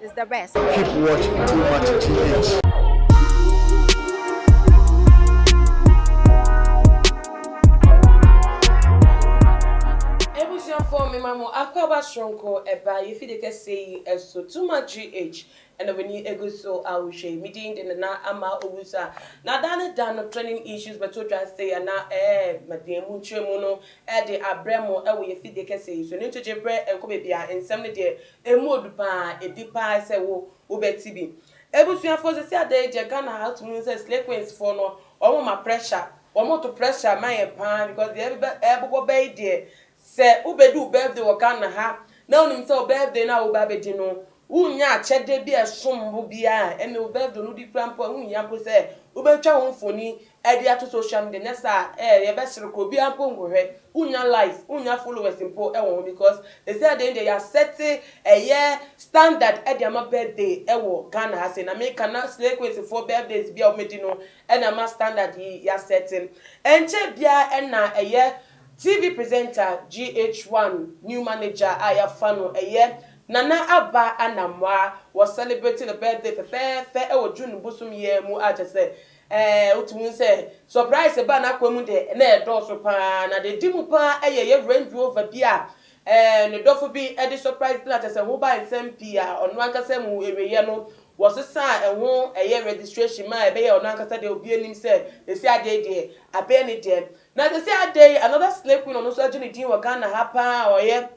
is the best. Keep watching too much GH. Ebusuafoɔ mema mo akwaaba soronko ɛbaa yɛfi de kɛseɛ yi so too much GH ɛna w'ani egu so a wohwɛ yi me din de Nana Ama Owusu a na daa ne da no trending issues bɛto dwa sei a na ɛɛ madeɛ mu nkyerɛmu no ɛde abrɛ mo ɛwɔ yɛfi de kɛseɛ yi so ɛno nti gye brɛ ɛnkɔ baabiara nsɛm no deɛ Emu odu paa, edi paa sɛ wo wo bɛte bi. Abusuafoɔ sɛsi ada yi gyɛ Ghana ha to mu sɛ slay queens foɔ no wɔn ma pressure, wɔn to pressure ma yɛn paa because deɛ ɛbɛ ɛbobɔ bɛ yi deɛ sɛ wo bɛdi wo birthday wɔ Ghana ha na wo nim sɛ wo birthday no a wo ba bɛdi no wo nnya akyɛdeɛ bi a ɛsombo biara ɛnna wo birthday no wodi koraa mpo a wo nhia mpo sɛ wo bɛtwa ho mfoni Ɛde ato social media nyɛ saa ɛɛ yɛbɛsere kɔ obiara mpo nkɔhwɛ wonnya likes wonnya followers mpo wɔ ho because sesei deɛ ndeɛ yɛasɛte ɛyɛ standard de ama birthday wɔ Ghana ha sei na meka na slay queens foɔ birthdays bi a wɔdi no na ama standard yi yɛasɛte ɛnkyɛ biara na ɛyɛ TV presenter GH1 new manager a yɛafa no ɛyɛ Nana Aba Anamwaa wɔ celebrate ne birthday fɛfɛɛfɛ wɔ June bosom yi ara mu a kyerɛ sɛ Ɛɛ, wotumi hu sɛ sɔpraese baa n'akoa mu de, na ɛredɔɔso paa. Na deɛ ɛdi mu paa yɛ yɛn Range Rover bi a ɛɛ ne dɔfo bi de sɔpraese no a kyerɛ sɛ ɛho baa nsɛm pii a ɔno ankasa mu awieeɛ no, wɔsesaa ɛho ɛyɛ registration ma ɛbɛyɛɛ ɔno ankasa dea. Obiara nim sɛ seesei adeɛ yi deɛ abɛyɛ ne dɛ. Na seesei ada yi, another Slay Queen a ɔno nso agye ne din wɔ Ghana ha paa a ɔyɛ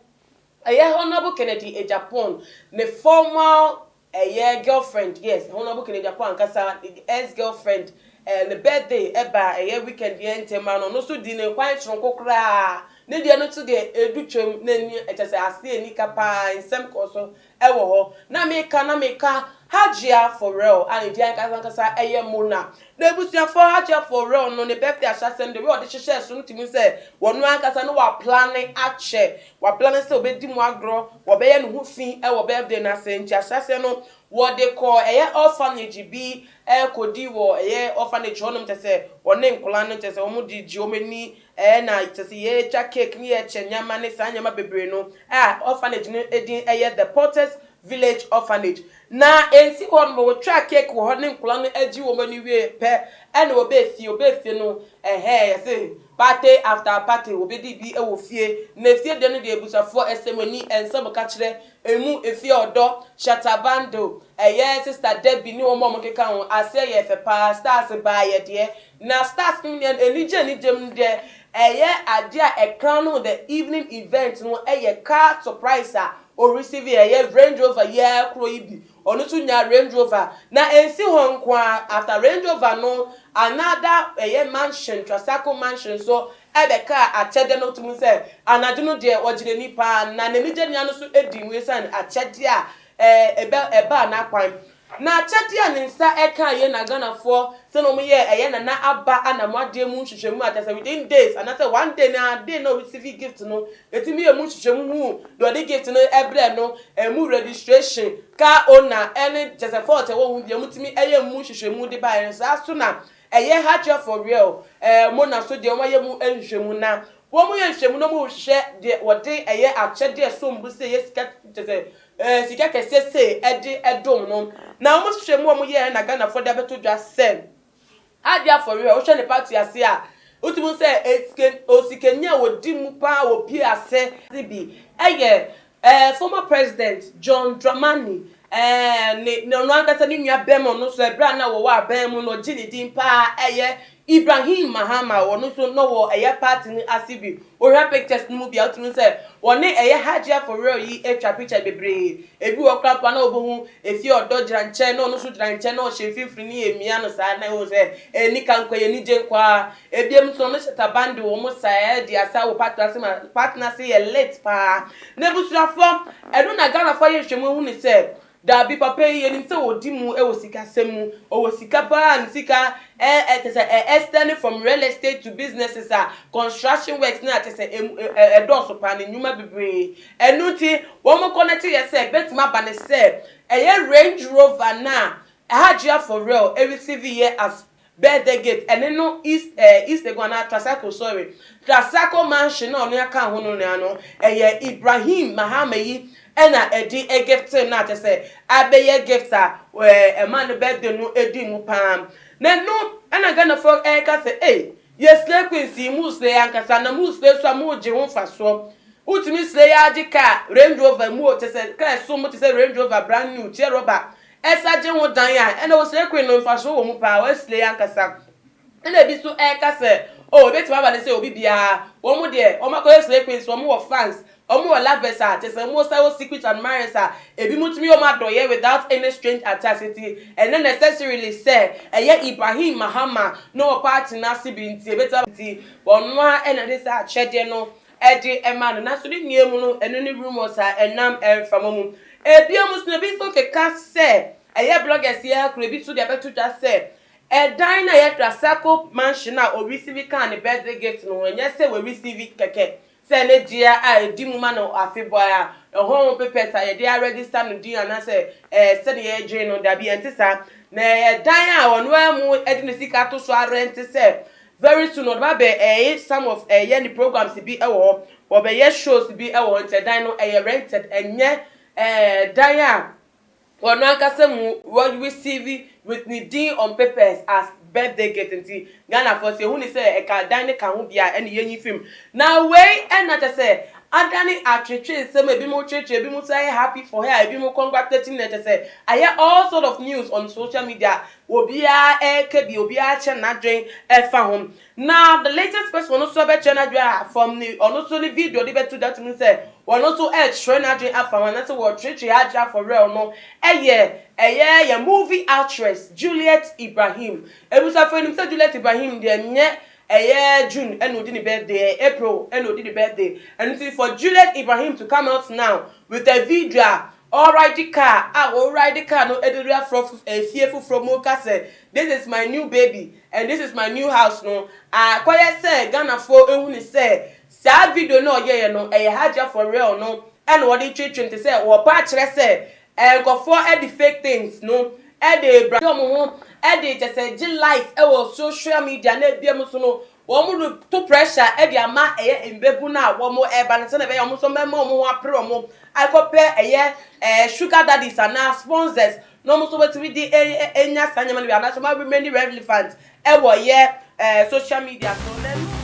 ɛyɛ Honourable Kennedy Agyapong, ne formal Ɛyɛ girlfriend yes ɛhɔ na ɔbɔ kene de akɔ ankasa ex girlfriend ɛɛ ne birthday ɛba a ɛyɛ weekend yɛ ntem ano no so di ne kwan soronko koraa ne deɛ no nso deɛ edu twam na nie ɛkyɛsɛ aseɛ nni ka paa nsɛm kɔɔ so ɛwɔ hɔ na me ka na me ka Hajia for real a ne din ankasa ankasa ɛyɛ Mona na abusuafoɔ Hajia for real no ne birthday ahyɛsɛm deɛ wei a ɔde hyehyɛɛ so no tumi hu sɛ wɔno ankasa no wa plane akyɛ Wabla no sɛ ɔbɛdi mu agorɔ, wɔbɛyɛ ne ho fi wɔ birthday no ase, nti ahyɛ aseɛ no wɔde kɔ ɛyɛ orphanage bi kɔdi wɔ ɛyɛ orphanage hɔ nom kyerɛ sɛ wɔne nkwadaa no kyerɛ sɛ wɔn de gye wɔn ani na kyerɛ sɛ yɛtwa cake ne yɛkyɛ nneɛma ne saa nneɛma bebree no a orphanage no din ɛyɛ The Porters Village Orphanage na ɛnsi hɔ nom wɔtwaa cake wɔ hɔ ne nkwadaa no gye wɔn ani wieɛ pɛ ɛna wɔbɛɛ fie wɔbɛɛ fie no ɛhɛɛ yɛse Party after party wɔbɛdi bi wɔ fie na efie deɛ no deɛ abusuafoɔ ɛsɛm ani nsɛm ka kyerɛ ɛmu efie ɔdɔ shatta bundle ɛyɛ sister Debbie ne wɔn a wɔn keka ho aseɛ yɛ fɛ paa stars baa yɛ deɛ na stars nom deɛ anigye anigye mu deɛ ɛyɛ adeɛ a ɛkran nom the evening event no ɛyɛ car surprise a ɔreceive ɛyɛ Range Rover yi ara koro yi bi Ɔno nso nyaa Range Rover. Na ɛnsi hɔ nko ara, after Range Rover no, another ɛyɛ mansion, Trasaco mansion nso bɛkaa akyɛdeɛ no tom sɛ anadwo no deɛ ɔgye n'ani pa ara. Na n'ani gye nea no nso di mu ɛsiane akyɛdeɛ a ɛɛ ɛbaa n'akwan. Na akyɛdeɛ a ne nsa kaa yei na Ghanafoɔ sɛdeɛ wɔyɛɛ ɛyɛ Nana Aba Anamwadeɛ mu nhwehwɛmu a kyerɛ sɛ within days anaasɛ one day no ara day no a ɔreceive gift no, yɛtumi yɛɛ mu nhwehwɛmu huu deɛ ɔde gift no brɛɛ no. Ɛmu registration, car owner, ne kyɛsɛ fault a ɛwɔ ho bia wɔtumi ɛyɛ mu nhwehwɛmu de baeɛ no saa so na ɛyɛ hardware for real ɛɛ mona so deɛ wɔn ayɛ mu nhwehwɛmu na wɔn yɛ nhwehwɛmu na wɔn rehwehwɛ deɛ wɔde ɛyɛ akyɛdeɛ ɛsom bo sei ɛyɛ sika kyɛsɛ ɛɛ sika kɛseɛ sei ɛde ɛdom no na wɔn nhwehwɛmu a wɔn yɛɛ na Ghanafoɔ de abɛto dwa sɛ Ade afɔre a wohwɛ ne pa to ase a wotumi hu sɛ sika osikani a odi mu paa wɔ pii ase ne bi yɛ ɛɛ former president John Dramani ɛɛ ne ne ɔno ankasa ne nua bɛma ɔno nso ɛberɛ a na wɔwɔ aban mu no ɔgye ne din paa ɛyɛ Ibrahim Mahama ɔno nso na ɔwɔ ɛyɛ party no ase bi Wohwɛ pictures no mu bi a wotumi hu sɛ wɔne ɛyɛ Hajia for real yi atwa picture bebree. Ebi wɔ hɔ koraa mpo a na wobohu efie a ɔdɔ gyina nkyɛn na ɔno nso gyina nkyɛn na ɔhyɛ mfimfini ne amia no saa na ɛwɔ sɛ ɛyɛ nika nko ɛyɛ anigye nko ara. Ebiem nso ɔno hyɛ taban de wɔn saa adi asa wɔ park no ase ma park no ase yɛ lit paa. N'abusuafoɔ, ɛno na Ghanafoɔ ayɛ nhwɛmu ahu no sɛ Dabi papa yi yɛnim sɛ ɔdi mu wɔ sikasɛm mu, ɔwɔ sika paa, ne sika eh eh kyɛsɛ eh extend from real estate to businesses a construction works no a kyɛsɛ emu eh ɛdɔɔso paa ne nnwuma bebree ɛno nti wɔn connect yɛ sɛ bɛtumi aba ne sɛ ɛyɛ Range Rover no a Hajia for real ɛreceive yɛ as Bɛɛ the gate ɛne no east ɛɛ east egu anaa tracycle sorry tracycle mansion na ɔnoa kaa ho no noa no ɛyɛ Ibrahim mahama yi ɛna ɛde gifte no a kyɛ sɛ abɛyɛ gift a ɛɛ ɛma no birthday no edi mu paa na no ɛna Ghana foɔ ɛɛka sɛ ei yɛ slay queens yi mo slay ankasa na mo slay so a mo gye ho nfasoɔ wotumi slay ara gye car Range Rover mu o kyɛ sɛ car ɛsom mo kyɛ sɛ Range Rover brand new teɛ rubber Ɛsa gye ho dan a, ɛnna Wesley koe no mfaso wɔ mu paa. Wesley ankasa na bi nso reka sɛ, Oh, ebetumi aba no sɛ obi biara, wɔn deɛ, wɔakɔ Wesley koe nso, wɔwɔ fans, wɔwɔ lovers a, kyerɛ sɛ wɔn san wɔ secret admirers a ebinom tumi yɛ wɔn adɔeɛ without any strange attacks. Enti, ɛnyɛ necessarily sɛ ɛyɛ Ibrahim Mahama na ɔpɛ atena ase bi nti, ebetumi aba. Enti, wɔn ara na ɛde saa akyɛdeɛ no ɛde ma no nanso ne nua mu no ɛno ne rumours a ɛnam mframa mu. Ɛbia mu nso no ebi nso keka sɛ ɛyɛ bloggers yi ara kura ebi nso de abɛto dwa sɛ ɛdan no a yɛfrɛ Asako mansion a ɔreceive kaa ne birthday gift no ho ɛnyɛ sɛ w'receive kɛkɛ sɛ ne dea a ɛdi mu ma no afebɔɔ a ɛhɔ ho papers a yɛde aregister no din anaasɛ ɛɛ sɛdeɛ yɛdwene no dabi ɛnte saa na ɛyɛ dan a ɔno ara mu ɛde ne sika to so arente sɛ Very soon ɔde ba bɛ ɛɛ some of ɛɛ yɛ ne programs bi ɛwɔ hɔ wɔ bɛ yɛ shows bi ɛwɔ hɔ nti ɛdan no ɛyɛ rented ɛnyɛ ɛɛ dan a wɔ no ankasa mu wɔ receive with ne din on papers as birthday gift nti Ghana foɔ sɛ yɛ hu ne sɛ ɛka dan no ka ho bi a ɛne yɛ nyi fim na wei ɛna kyɛ sɛ adane atwetwe nsɛm a ebi mo kyerɛkyerɛ ebi mo sɛ ayɛ happy for her ebi mo congratulating no ɛkyɛ sɛ ayɛ all sort of news on social media Obiara reka bi, obiara akyɛ n'adwen ɛfa ho. Na the latest person ɔno nso bɛkyɛ n'adwen a from ne ɔno nso ne video de bɛto da tumi sɛ ɔno nso rekyerɛ n'adwen afa ho anaasɛ wɔrekyerɛkyerɛ adwen afa werɛw no yɛ ɛyɛ yɛn movie actress Juliet Ibrahim. Abusuafo yɛnim sɛ Juliet Ibrahim deɛ nyɛ ɛyɛ June ɛna ɔdi ne birthday ɛyɛ April ɛna ɔdi ne birthday ɛno nti for Juliet Ibrahim to come out now with a video a Ɔride kaa a ɔride kaa no de wura frɔ fie foforɔ mu reka sɛ this is my new baby and this is my new house no, akɔyɛ sɛ Ghanafoɔ ahunu sɛ saa video no a ɔyɛeɛ no ɛyɛ Hajia for real no na ɔde retwetwe no te sɛ ɔrepɛ akyerɛ sɛ nkurɔfoɔ de fake things no de rebrande wɔn ho de kyerɛ sɛ gye likes wɔ social media na ebinom nso no Wɔreto pressure de ama ɛyɛ mbabun a wɔreba no sɛnea ɛbɛyɛ a wɔn nso wɔbɛma wɔn ho apere wɔn akɔpɛ ɛyɛ ɛɛ sugar daddies anaa sponsors na wɔn nso wɔatumi de anya saa nneɛma no bi anaasɛ wɔn remaining relevant wɔ ɛyɛ ɛɛ social media so na ɛno.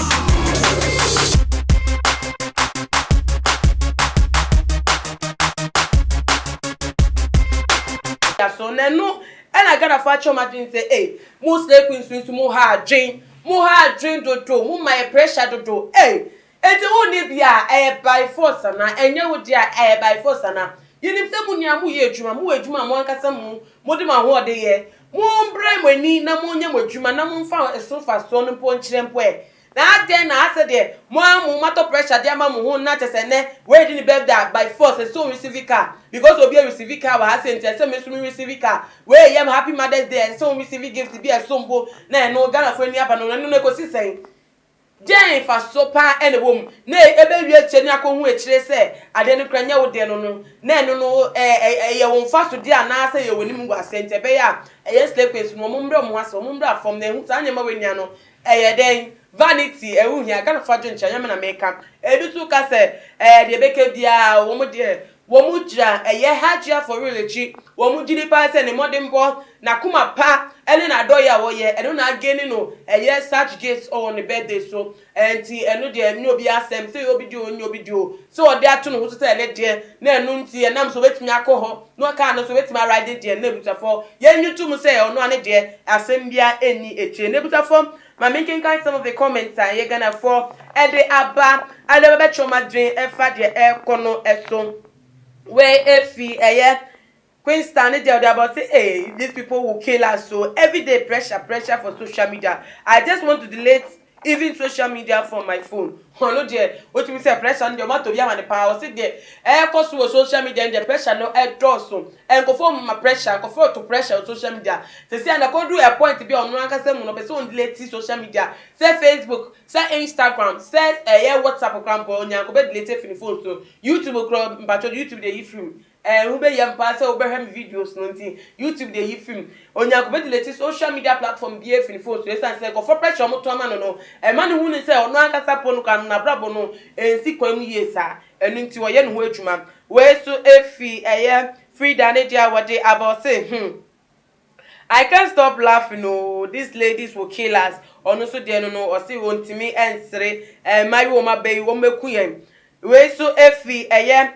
so na ɛno ɛna ghana fa akyerɛ ɔmo adwene sɛ ee eh, mo slay queens nso mo ha adwen mo ha adwen dodo mo ma yɛ pressure dodo ee eh, eti wo ne bi a ɛyɛ by force ana ɛnyɛ wo deɛ a ɛyɛ by force ana yɛnim sɛ mo nua mo yɛ adwuma mo wɔ adwuma mo ankasa mo mo de mo ahoɔden yɛ Mommrɛ mo ani na monyɛ mo adwuma na momfa ɛso mfasoɔ no mpo nkyerɛ mpo ɛ. Na adɛn na asɛ deɛ mo ara mo matɔ pressure de ama mo ho na kyɛ sɛ nnɛ wei de ne birthday a by force ɛsɛ sɛ ɔreceive car because obi receive car wɔ ha sei nti ɛsɛ sɛ me nso me receive car. Wei ɛyɛ me happy mother's day a ɛsɛ sɛ wo receive gift bi a ɛsom bo na ɛno Ghanafoɔ ani aba no ɛno no ɛkɔsi sɛn? Dɛn mfaso paa na ɛwɔ mu na ebewie akyiri ne akohu akyiri sɛ ade no kura nyɛ wo de no no, na ɛno no ɛyɛ wo mfaso de anaasɛ ɛyɛ w'anim ngu ase? Nti ɛbɛyɛ a ɛyɛ slay queens no wɔn mmrɛ wɔn ho ase, wɔn mmra fam na ehu saa nneɛma wei nua no ɛyɛ dɛn? Vanity ɛho hia, Ghanafo adwenkyerɛ nyɛ me na meka, ebi nso ka sɛ ɛɛ deɛ ɛbɛka biara wɔn deɛ Wɔgyina ɛyɛ Hajj afɔre no akyi, wɔgye di paa sɛ ne mmɔdenbɔ, n'akoma pa ne n'adɔeɛ a ɔyɛ, ɛno na againi no ɛyɛ such gifts wɔ ne birthday so. Ɛnti ɛno deɛ ɛnyɛ obi asɛm, sɛ ɛyɛ obi deɛ o ɛnyɛ obi deɛ o, sɛ ɔde ato ne ho so sɛ ɛne deɛ, na ɛno nti ɛnam so ɔbɛtumi akɔ hɔ na car no nso ɔbɛtumi a ride deɛ, na abusuafoɔ yɛnnye ntom sɛ ɔno ara ne deɛ asɛm biara nni akyire. Na abusuafoɔ Ma me nkenkan some of the comments a ɛyɛ Ghanafoɔ de aba, a na bɛbɛkyerɛ wɔn adwene ɛfa deɛ ɛrekɔ no so. Wei ɛfiri ɛyɛ Queenstown ne deɛ ɔde aba ɔse ee these people will kill us o, everyday pressure pressure for social media, I just want to delete even social media from my phone. Hɔn no deɛ wotumi sɛ pressure no deɛ wɔatɔ bi ama no paa, wɔse deɛ ɛrekɔ so wɔ social media no deɛ pressure no dɔɔso, nkorɔfoɔ mma pressure, nkorɔfoɔ reto pressure wɔ social media, seesei a na kɔduru a point bi a ɔno ankasa mu no ɔpɛ sɛ ɔndeleti social media, sɛ Facebook, sɛ Instagram, sɛ ɛyɛ WhatsApp koraa mpo ɔnyaa nkɔbɛdeleti afi ne phone so, YouTube koraa mpakyɛw YouTube deɛ yi firi mu, Ɛɛ, wobɛyam paa sɛ wobɛhwɛ me videos no nti, YouTube de ayi firi mu. Onyaa kɔbɛ deleting social media platform biara firi ne phone so ɛsiane sɛ nkurɔfoɔ pressure a wɔto ama no no ɛma no hu no sɛ ɔno ankasa mpo no koraa no n'abrabɔ no ɛnsi kwan mu yie saa, ɛno nti ɔyɛ ne ho adwuma. Wei nso firi ɛyɛ Frida ne deɛ a wɔde aba ɔse hmm I can't stop laughing oo these ladies will kill us ɔno nso deɛ no no ɔse ɔntumi ɛnsere ɛɛ mmayewa a wɔaba yi wɔbɛku yɛn. Wei nso firi ɛyɛ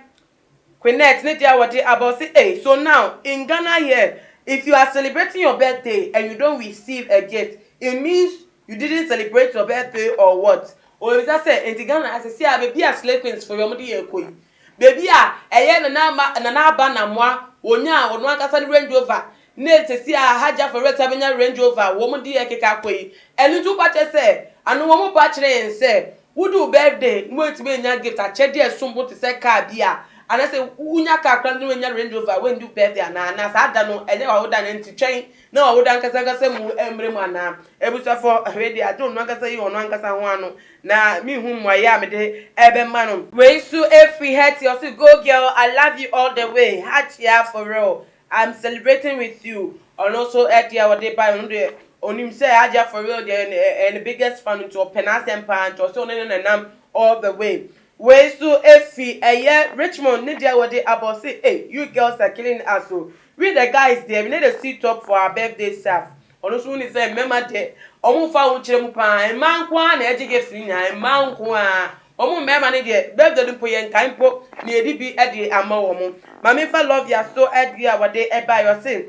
Quinette ne deɛ a wɔde aba ɔse ei so now in Ghana here if you are celebrating your birthday and you don't receive a gift it means you didn't celebrate your birthday or what Obisa sɛ enti Ghana ha sɛsei a baabi a slay queens fo yɔm de yɛn kɔ yi baabi a ɛyɛ Nana Ama Nana Aba Namoa wɔnyaa wɔn ankasa ne Range Rover Ne sɛsi a Hajjah for Rest abɛnya Range Rover a wɔn de ɛkeka akɔ yi, ɛno nti woka kyerɛ sɛ ano wɔn ba kyerɛ yɛn sɛ wodu wo birthday na woantumi annya gift, akyɛdeɛ a ɛsom bo te sɛ car bi a, anaasɛ wonya car koraa na woannya Range Rover a, woandu wo birthday anaa? Anaa saa da no ɛnyɛ w'awoda anaa? Nti twɛn na w'awoda ankasa ankasa mu mmere mu anaa? Abusuafoɔ, wei deɛ agye ɔno ankasa yi ɔno ankasa ho ano na menhu mmuaeɛ a mede ɛbɛma no. Wei nso firi Hetty, ɔse Go girl, I love you all the way, Hajjah for real, I'm celebrating with you ɔno nso deɛ ɔde baeɛ ɔno deɛ ɔnim sɛ Adya for real deɛ ɛyɛ ne biggest fan nti ɔpɛ n'asɛm paa nti ɔsɛ ɔne no na nam all the way wei nso ɛfiri ɛyɛ Richmond ne deɛ ɔde aba ɔse ei you girls are killing us o we the guys deɛ we no dey see top for our birthday saf Ɔno nso nim sɛ mmarima deɛ wɔmfa ahokyerɛ mu pa ara, mmaa nko ara na ɛgye gifts no nyinaa, mmaa nko ara. Wɔn mmarima no deɛ birthday no mpo yɛnkae mpo na yɛde bi de ama wɔn. Ma memfa Lovia so adeɛ a wɔde baeɛ, ɔse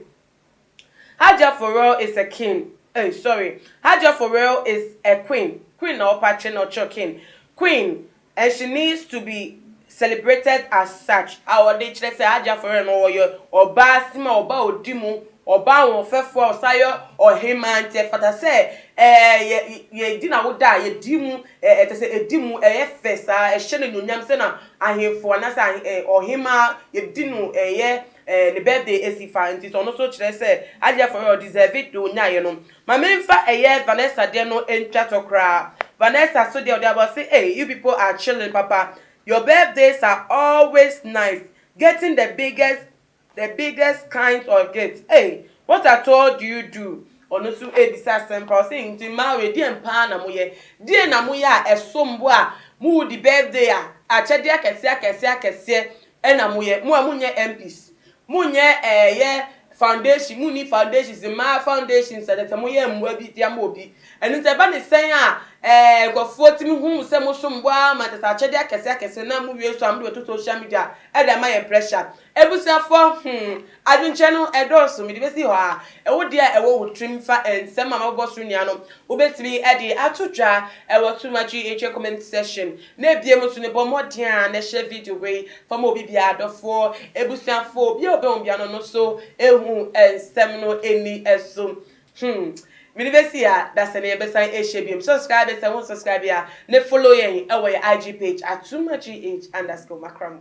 Hajjah for real is a king, ei sorry, Hajjah for real is a queen, queen na wɔpa kyerɛ na wɔkyerɛ king, queen And she needs to be celebrated as such a ɔde kyerɛ sɛ Haji Afɔrɛ no ɔyɛ ɔbaa sima a ɔbaa a ɔdi mu, ɔbaa ahoɔfɛfoɔ a ɔsan yɛ ɔhemaa nti ɛfata sɛ yɛ yɛ di n'awoda a yɛdi mu ɛ ɛ kyerɛ sɛ ɛdi mu ɛyɛ fɛ saa ɛhyɛ no anuonyam sɛ na ahenfoɔ anaasɛ ahe ɛ ɔhemaa yɛdi no ɛyɛ ɛ ne birthday ɛsi fa nti sɛ ɔno nso kyerɛ sɛ Haji Afɔrɛ ɔdeserve it deɛ ɔnyaeɛ no. Ma me nfa ɛyɛ Vanessa deɛ no ntwa tɔ koraa Vanessa so deɛ ɔde aba ɔse ei you people are chilling papa your birthdays are always nice getting the biggest the biggest kinds of gifts ei what at all do you do ɔno nso rebisa asɛm paa ɔse nti mmaa wei deɛn paa na moyɛ deɛn na moyɛ a ɛsom bo a mowodi birthday a akyɛdeɛ akɛseɛ akɛseɛ akɛseɛ na moyɛ mo a monyɛ MPs Monyɛ ɛɛ yɛ foundation monni foundations mmaa foundations ɛnɛ sɛ moyɛ mmoa bi de ama obi ɛno nti ɛba ne sɛn a ɛɛ nkurɔfoɔ tumi hu sɛ mosom bo ara ma kyɛ sɛ akyɛdeɛ akɛse akɛse na mo wie nso a mode bɛto social media ɛde ama yɛn pressure abusuafoɔ hmm adwenkyerɛ no ɛdɔɔso mede bɛsi hɔ a ɛwo deɛ a ɛwɔ wo tirim fa nsɛm a mabobɔ so nyinaa no wobɛtumi ɛde ato dwa ɛwɔ Too Much GHA comment section Na ebiem nso no, bɔ mmɔden ara na hyɛ video wei fa ma obi biara, adɔfoɔ, abusuafoɔ, obiara a ɔbɛn wo biara no no so ɛhu nsɛm no ɛnni ɛso. Hmm. Mede bɛsi ha, da sɛ na yɛbɛsan ahyia biom. Subscribe yɛn sɛ wo nsubscribe a, ne follow yɛn ɛwɔ yɛn IG page, Atumah GH underscore Makramu.